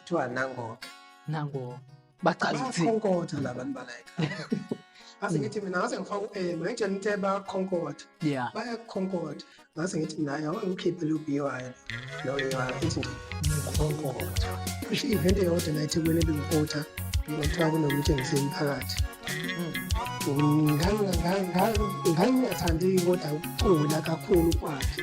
kuthiwa nangoke nango bachaza ukuthi bakhonkotha labantu balayikhaya ngase ngithi mina ngase ngifaka u-m ngitshela ukuthi bakhonkotha yeah bayakhonkotha ngase ngithi mina yawe ngikhiphe lo bhy lo bhy ithi nje ngikhonkotha kusho i-event eyodwa la ethekwini ebingikotha kuthiwa kunomtshengisi emphakathi ngangingathandi kodwa ukugula kakhulu kwakhe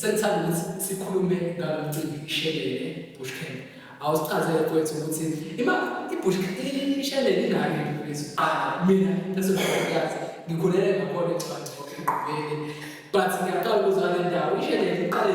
Sengithanda ukuthi sikhulume ngalo mcimbi ishelele bush camp. Awusichazele kwethu ukuthi ima ibush ishelele ingane mfethu qala mina ngisezokuyazi ngikhulele ngakhona ecabanga ukuthi ngqubeke but ngiyaqala ukuzwa le ndawo ishelele iqale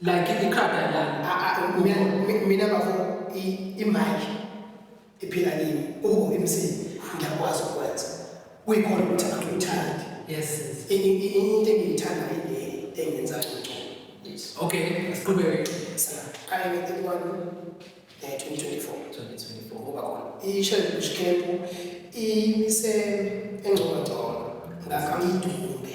like ikhanda lami mina bafo imanje iphila kimi ubo emsini ngiyakwazi ukwenza kuyikhona ukuthi abantu uthandi yes into engiyithanda ile engenza ngcono yes okay siqhubeke siqale ngetikwane eh 2024 2024 ngoba khona ishele kushikephu imise engcono ngakho ngidumbe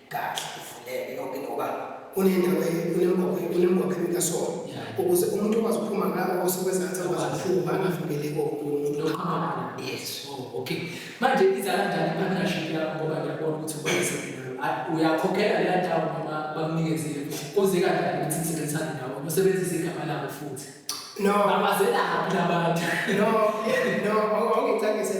kahle ivuleke yonke ngoba unendawo unemgwaqeni kasona ukuze umuntu okwazi ukuphuma ngalo osekwezansi akwazi ukuphuma angavimbeleki omuntu yes oh, okay manje iza kanjani ipartnership yakho ngoba ngiyabona ukuthi ukwazisa uyakhokhela leya ndawo noma bakunikeziwe kuze kanjani ukuthi nisebenzisane ndawo usebenzise igama labo futhi no abazelaphi labantu no no awungicakise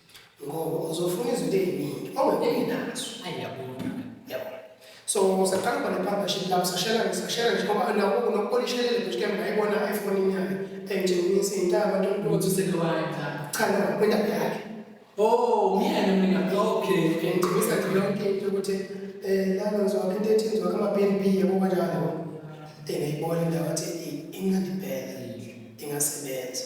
ngoba uzofuna izinto eziningi ongeneli nazo ayi yabona yabona so saqala khona ipartnership lapho sashela sashela nje ngoba nawo nokupolishelele nje ke ngayibona efonini yakhe engitshengisa intaba nto ukuthi usekwaya cha no kwendaba yakhe oh myena mina okay ngigqibisa nje yonke into ukuthi eh lana ngizwakhe into ethi ngizwakhe ama-bnb yabo kanjalo engayibona indawo athi inganibhela ingasebenza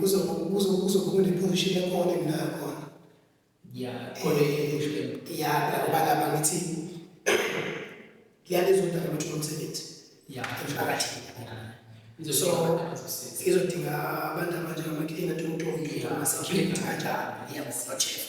kuzokhuluma iphozishini ekhona enginayo khona ya khona ephozishini ya ngoba lapha ngithi liyalizodwa ukuthi umsebenzi ya emphakathini so izodinga abantu abanjengamakilina tontongi amasecurity kanjalo yabo bachef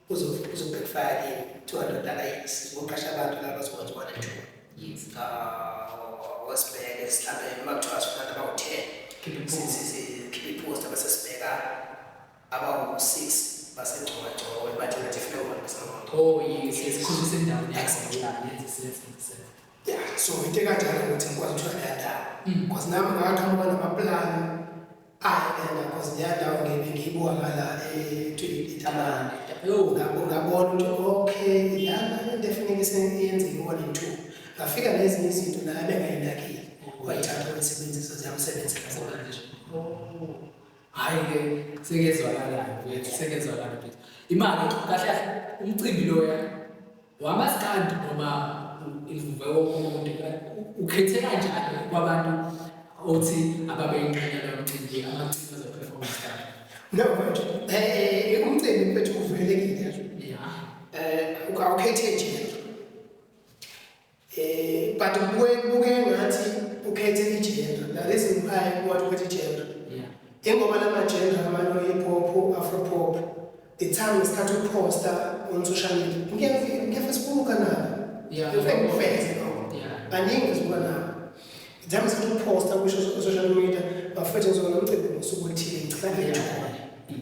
uzobhekifaya kini 200 dollar yes ngoqasha abantu laba bazokwenza one and two yes uh wasibheke sihlale noma kuthiwa sifanele about 10 sikhiphe ipost abasesibheka abawu 6 basengcoba ngcoba bathi ngathi funa ukuba ngisangcoba oh yes yes khona sendawo yes yes yes yeah so into kanjalo ukuthi ngikwazi ukuthola le ndawo mm. because nami ngakaqhamuka namaplani Ayi mina cause leyandawo ngibe ngiyibuka ngala eTabange. Yo ngabo ngabona ukuthi okay lana into efuneka sengiyenzile one and two. Ngafika nezinye izinto naye bengayinakile. Wayithatha wayisebenzisa ziyamsebenzela zona nje. Hhayi ke sekezwakalayo mfethu sekezwakala mfethu. Imali kahle kahle umcimbi loya Wamazi kanti noma ivuve wonke umuntu ukhethe kanjani kwabantu othi ababeyingxenye lomcimbi amacimbi azoperformance kanjani? No, mfethu. Eh, umcimbi mfethu uvulelekile. Yeah. Eh, ukhethe nje. Eh but kubuye kubuke ngathi ukhethe igender. Now this is why what with igender. Yeah. Ingoba lama gender amano hip hop, afro pop. The time isikhathi ukuposta on social media. Ngeke ngeke sibuka na. Yeah. Ngeke ngifeze no. Yeah. Baningi sibuka na. The time isikhathi ukuposta kusho social media bafethu ngizona umcimbi ngosuku oluthile ngicela ngethole.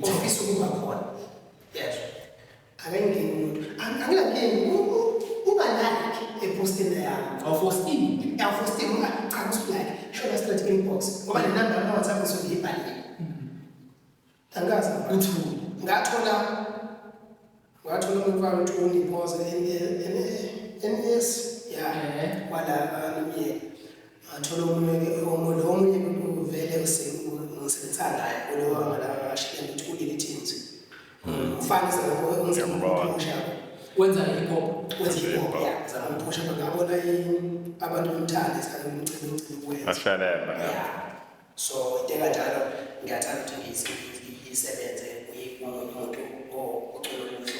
Ofisa ukuba khona. Yes. akengeni umuntu Ang- anginankingi U- u- ungalike epostini yami awufostini yafostini ungacanga usulike shona straight inbox ngoba le namba yami whatsapp ngisuke ngiyibhalile angikazi uthule ngathola ngathola umuntu wami ukuthi ungipoze ns ya Eh. wala nomyeni ngathola omunye-ke omu- lo omunye uvele ngisebenza ngayo kulowa ngalaa shilento ukuthi ulile teams ufanisa nokuwenzaausha wenza hip hop wenza hip hop ya zama ukuphusha ngabona abantu bemthanda isikhathi umcimbi umcimbi wenza ashalela ya so teka njalo ngiyathanda ukuthi ngiyisebenze umuntu ocula umculo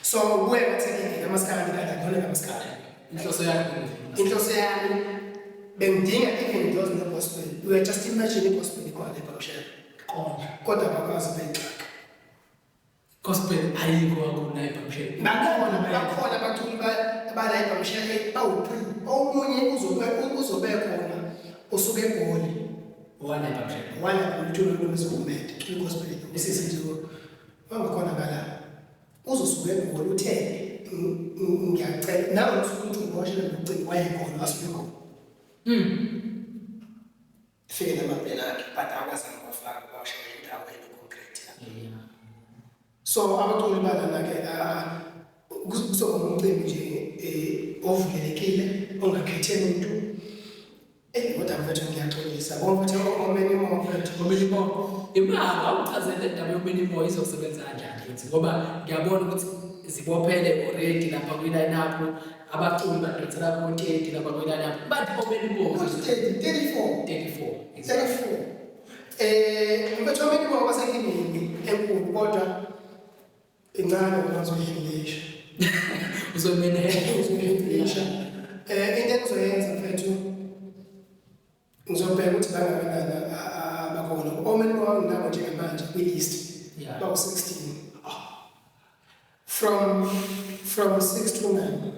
so kuwe kuthekile amaskhala ngidala khona ngamaskhala inhloso yakho inhloso yami bengidinga even those in the gospel you are just imagine the gospel ikhona lapha kushela qonda kodwa bakwazi bengixaka gospel ayikho akuna ebhamshela bakhona bakhona abaculi abala ebhamshela bawuphi omunye uzobe uzobe khona usuke egoli wala ebhamshela wala umculo lomzomede kwi gospel isisizo Wangakhona ngala. Uzosuke egoli uthe ngiyacela nawe usuke uthi ngiboshelwe ngocingo wayegoli asuke egoli. Mm. Fike namabhena akhe but akwazanga kwafaka kwashaya indawo enoconcrete. Yeah. So abaculi balana-ke kuzoba ngumcimbi nje um ovulelekile ongakhethe muntu Eyi kodwa mfethu ngiyaxolisa ngoba mfethu yonke omeni imo mfethu. Omeni imo. Imali awuchazele indaba yomeni imo izosebenza kanjani futhi ngoba ngiyabona ukuthi zibophele already lapha kwi-line up abaculi badonsela kontenti lapha kwi-line up bathi omeni imo. 34. 34. 34. Eh mfethu omeni imo basenkingeni enkulu kodwa incane uma uzoyihandlisha uzomene uzoyihandlisha eh into engizoyenza mfethu ngizobheka ukuthi bangakanani abakhona omeni wami nabo njengamanje kwi-list bawu-16 from from 6 to 9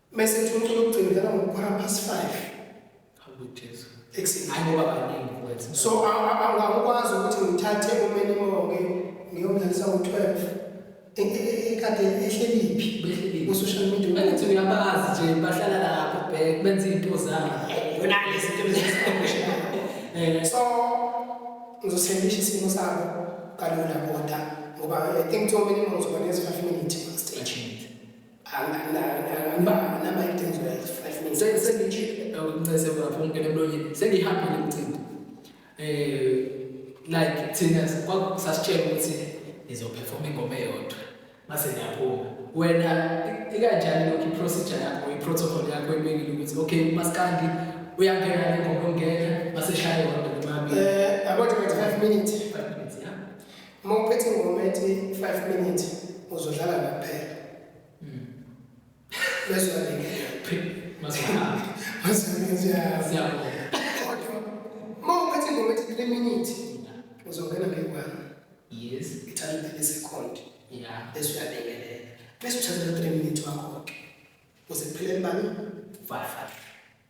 Mese thuncu lokugcina ngalo quarter past 5. Hawu Jesu. Ekuseni. Hayi ngoba baningi mfowethu. So angakwazi ukuthi ngithathe umene moke ngiyomdlalisa ngo-12. Ikade ehleliphi? Behleliphi. Ku social media. Bengithi uyabazi nje bahlala lapho bhek benza into zabo. Yona lezi into lezi. Eh so ngizosendisha isimo sabo kalula kodwa ngoba I think to many months when it's 5 minutes. sengihambile umcimbi eh like thina sasitshela ukuthi ngizoperforma ingoma eyodwa mase ngiyaphuma wena ikanjani lokho iprocedure yakho iprotocol yakho ebekile ukuthi okay maskandi uyangena ingoma ongena mase shaya yodwa nqabi eh about 5 minutes 5 minutes yeah Uma uphethe ingoma ethi 5 minutes uzodlala naphela. Mm. Bese uyalingeka. Masihamba. Masihamba siyabonga. Siyabonga. Kodwa uma uphethe ingoma ethi 3 minutes uzongena ngekwana. Yes. Ithatha isekondi. Yeah. Bese uyalingelela. Bese uthatha 3 minutes wakho ke. Uze kuphelele bani? 5.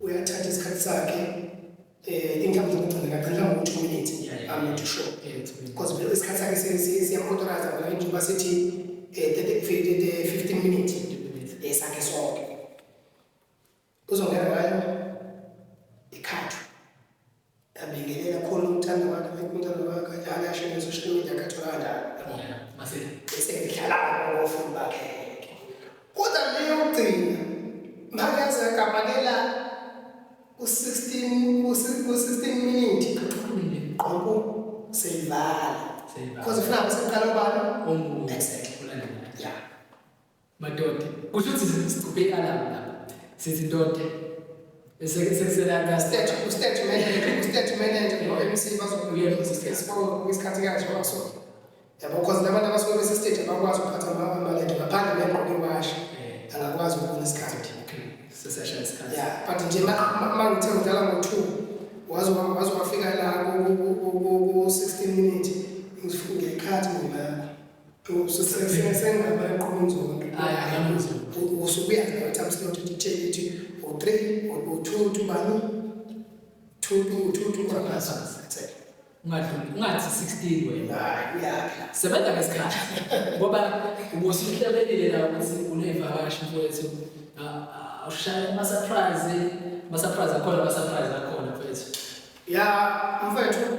uyathatha isikhathi sakhe eh income zokugcina kaqala ngo 2 minutes i'm not sure because vele isikhathi sakhe siyamauthorize ngoba njengoba sithi eh 15 minutes esakhe eh, sonke uzongena ngayo Yabingelela khona umthanda wakhe umthanda wakhe njalo asho nge-social media akathola kanjani. Yabona mase bese ngidlala ngofundi bakhe. Kodwa leyo gcina makaze akabakela u-16 u-16 minute qoko seyivala. Because ufuna bese kuqala ubani? Omunye. Exactly. Yeah. Madoda. Kusho ukuthi sicuphe i-alarm lapho. Sithi ndoda. Sekusela state ustate manager ustate manager no-MC bazobuya ngesikhathi ngesikhathi kanje waso. Yabo because labantu abasuke bese state abakwazi ukuphatha amalento ngaphandle kwengqondo iwashi. Eh. Angakwazi ukubona isikhathi. Okay. Sesesha isikhathi. Yeah, but nje uma ngithe ngidlala ngo-2 waze waze wafika la ku-16 minute ngizifunge ikhathi mina ungathi 16 wena sebenza ngesikhathi ngoba ubusihlabelile la ukuthi unevakashi mfowethu awushaya ama-surprise ama-surprise akhona ama-surprise akhona mfowethu ya mfowethu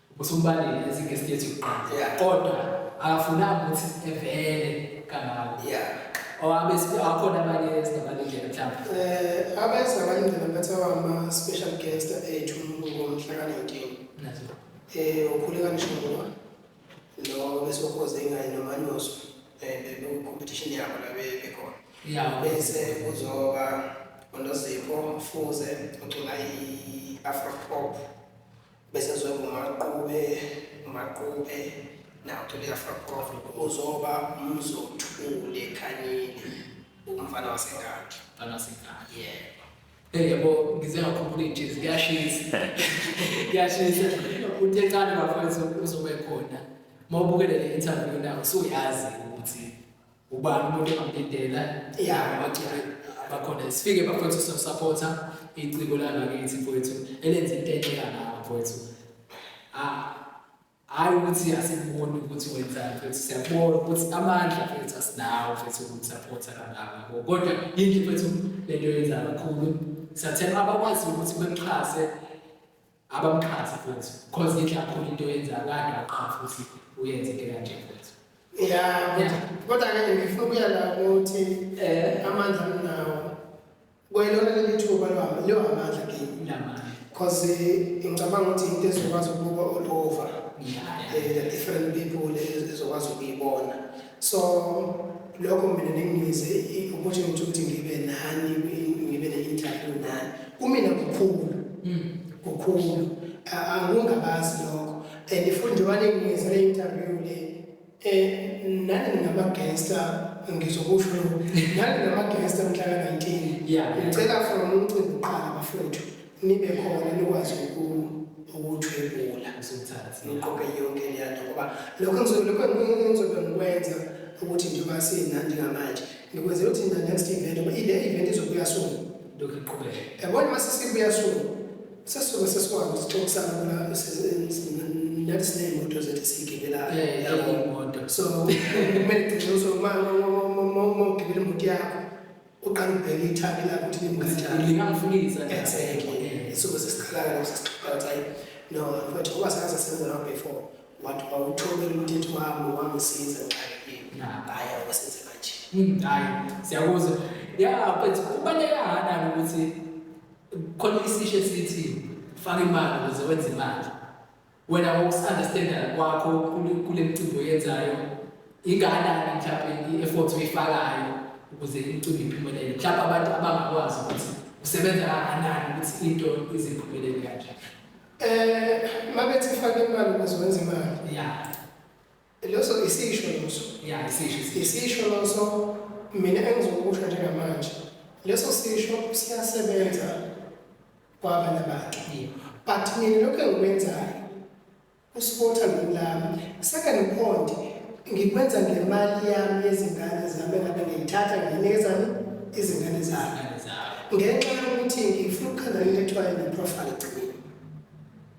Usumbalile as guest yethu kuqala. Yeah. Kodwa akafunanga ukuthi evele kangako. Yeah. Owabe sibe akhona abanye esingabalindele mhlawumbe. Eh abese abalindele bethe wama special guest ethu ngomhla ka 19. Nazo. Eh ukhuleka nishongo. Lo bese ukhoze ingane nomanyoso. Eh lo competition yabo la bekhona. Yeah. Bese kuzoba uNozipho Mfuze ocula i-Afro pop. bese ngizwe ngumaqube umaqube nawo thole yafakova uzoba umzothule khanini umfana wasengadi umfana wasengadi yebo eh, yebo ngize ngakhumbula ijezi kuyashisa kuyashisa uthe cana bafana uzobe khona mawubukele le interview nawo so yazi ukuthi ubani umuntu ongamdidela Yeah. abaculi abakhona sifike bafowethu sosapotha iciko langakithi mfowethu elenza into enhle kangaka mfowethu Ah, hhayi ukuthi asiboni ukuthi wenzani mfowethu siyabona ukuthi amandla mfowethu asinawo mfowethu ukusapotha kangaka Ko- kodwa yinhle mfowethu le nto yenza kakhulu siyathemba abakwazi ukuthi bemxhase abamqhathi futhi cause ngithi akhona into yenzayo kade waqhafa futhi uyenze into kanje futhi ya kodwa ke ngifuna ukuya la ukuthi eh amandla nginawo kwelona leli thuba lwami leyo amandla kimi namandla cause eh, ngicabanga ukuthi into ezokwazi ukubuka all over yeah, yeah. Uh, different people ezokwazi ukuyibona so lokho mina nengize ukuthi ngithi ukuthi ngibe nani ngibe ne-interview nani kumina kukhulu hmm. kukhulu angungabazi lokho and futhi njengoba nengize le interview le um nani ngingamagesta ngizokusho nani nginamagesta mhlaka-19 ngicela from umcimbi uqala bafowethu nibe khona nikwazi ukuthwebula niqoke yonke leyonto ngoba lokho engizobe ngikwenza ukuthi njengoba sinandi ngamanje ngikwenzela ukuthi na next event ngoba ile event izobuya soon lokhu iqhubeke yabona uma sesibuya soon sesuke sesikwazi ukuxoxisana kula nathi siney'moto zethu siyigibela so kumele gcine uzomagibela imoto yakho uqala ubheke ithabi lakho ukuthi limkanjani lingamfundisa exactly isuke sesiqala lapho sesixoxa ukuthi ayi no mfethu ngoba saze senza lapho before wathi wawuthobela ukuthi ethi wami wangisiza ngixakekile hayi awusenze kanje hmm, hayi siyakuzwa ya but kubaleka ngani ukuthi khona isisho esithi faka imali ukuze wenze imali Wena ngokusunderstanda kwakho kule- kule mcimbi oyenzayo ingakanani mhlawumbe i-effort oyifakayo ukuze imcimbi iphumelele mhlawumbe abantu abangakwazi ukuthi usebenza kangakanani ukuthi into ize iphumelele kanjani Eh, mabethi fake imali ukuze wenze imali. ya Loso isisho loso. Yeah, isisho. Isisho loso mina engizokusho njengamanje. Leso sisho siyasebenza kwabanye abantu. Yeah. But mina lokho engikwenzayo uspotha ngilami. Second point ngikwenza ngemali yami yezingane zami ngabe ngiyithatha nginikeza izingane zami. Ngenxa yokuthi ngifuna ukukhandana into ekuthiwa i-profile gcina.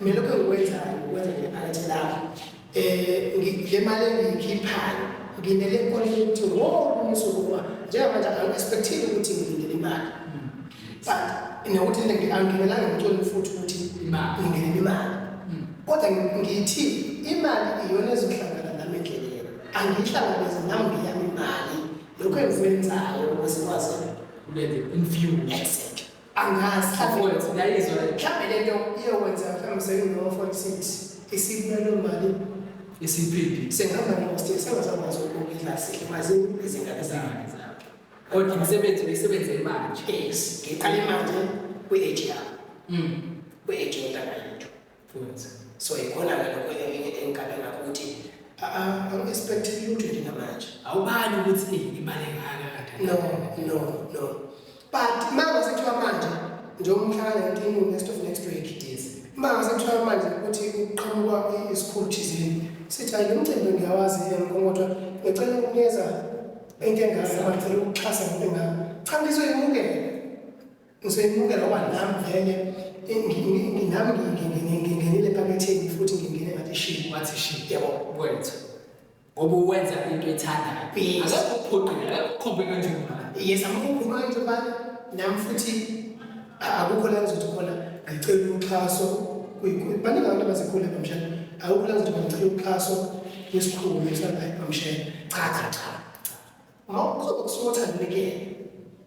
mina lokho engikwenzayo ukwenza ngephakethe lami um le mali engiyikhiphayo ngimele nkoleni ukuthi wonke umsuku uma njengamanje angi-expectile ukuthi ngilindele imali but nokuthi angimelanga ngitshole futhi ukuthi ngingenele imali hmm. kodwa ngithi imali iyona ezohlangana nami endleleni angiyihlangabeze nami ngiyami imali lokho engikwenzayo ukuze kwazi in few exactly angazi mhlawumbe ngayizwa mhlawumbe lento iyokwenza mhlawumbe sekulowo forty six isibulalo mali isiphindi sengihamba nosti sengazakwazi ukukudla sihle mazi izingane zami kodwa umsebenzi uyisebenze manje yes ngiqale manje kwi-age yami mm. kwi-age yentanga yethu Futhi. So ikona ke lokho elinye engigabe ngakho ukuthi I'm expecting you to be namanje. Awubali ukuthi ibale ngaka kanti. No, no, no. But manje sekuthiwa manje njengoba umhlangano inkinga next of next week it is. Manje sekuthiwa manje ukuthi uqhamuka isikhulu thizeni. Sithi ayi lomcimbi ngiyawazi yena kodwa ngicela ukunikeza into engazi ngicela ukuxhasa into engazi. Cha ngizwe imukele. Ngiseyimuke ngoba nami vele nami ngingenile ephaketheni futhi ngingene ngathi shi wathi shi yebo wethu ngoba uwenza into ethandayo akekho ukuphoqile akekho ukhombe kanjengomama yes amukhukhuma into bani nami futhi akukho la ngizothi khona ngicela uxhaso kuyikhulu baningi abantu abazikhule bamshana akukho la ngizothi ngicela uxhaso kwisikhulu esalayo bamshana cha cha cha Awukuzokwa kusuka othandekele.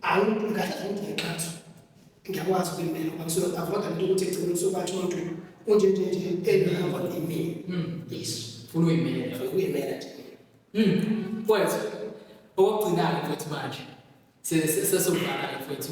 Awu ngikahle zonke ngexathu. Ngiyakwazi ukuyimbela ngoba ngisuke ngavoda into ukuthi egcine usuke bathi umuntu unje nje nje engihamba imini. Mm. Yes. Funa uyimela. Ngifuna uyimela nje. Mm. Kwethu. Okugcina-ke kwethu manje. Sesizovala kwethu.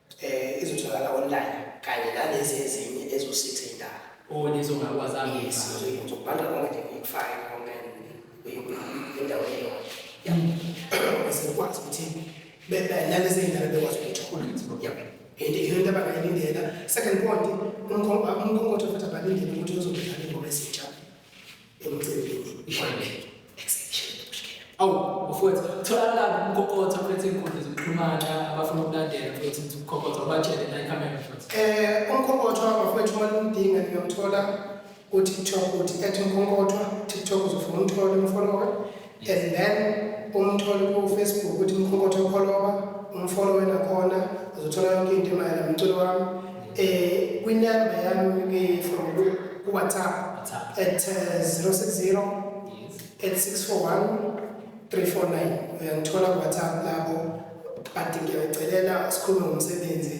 Eh izotholakala online kanye nalezi ezinye ezo 6 ezindala. Oh lezo ngakwazanga. Yes, uzobhanga konke nje ngikufake konke indawo eyodwa. Yabo. Esikwazi ukuthi bebe nalezi ezindala bekwazi ukuthola. Yabo. Into into abangayilindela. Second point umkhonto umkhonto futhi abalindele ukuthi uzobhekana ingoma ezintsha. awu mfowethu tholakala umkokotha mfethu iy'nkundla zokuxhumana abafuna ukulandela mfethu ukuthi umkokotha ubatshele la ikhamera mfethu Eh, umkhokothwa bafowethu uma nimdinga niyomthola ku-tiktok uthi at umkhokothwa tiktok uzofuna umthole umfolowe and then umthole kufacebook ukuthi mkhonkotho opholoba umfolo wena khona uzothola yonke into emayela mculo wami um eh, kwinemba yami from kuwhatsapp at 060 uh, at 641 349 uyangithola kuwhatsapp lapho but ngiyacelela sikhulume ngomsebenzi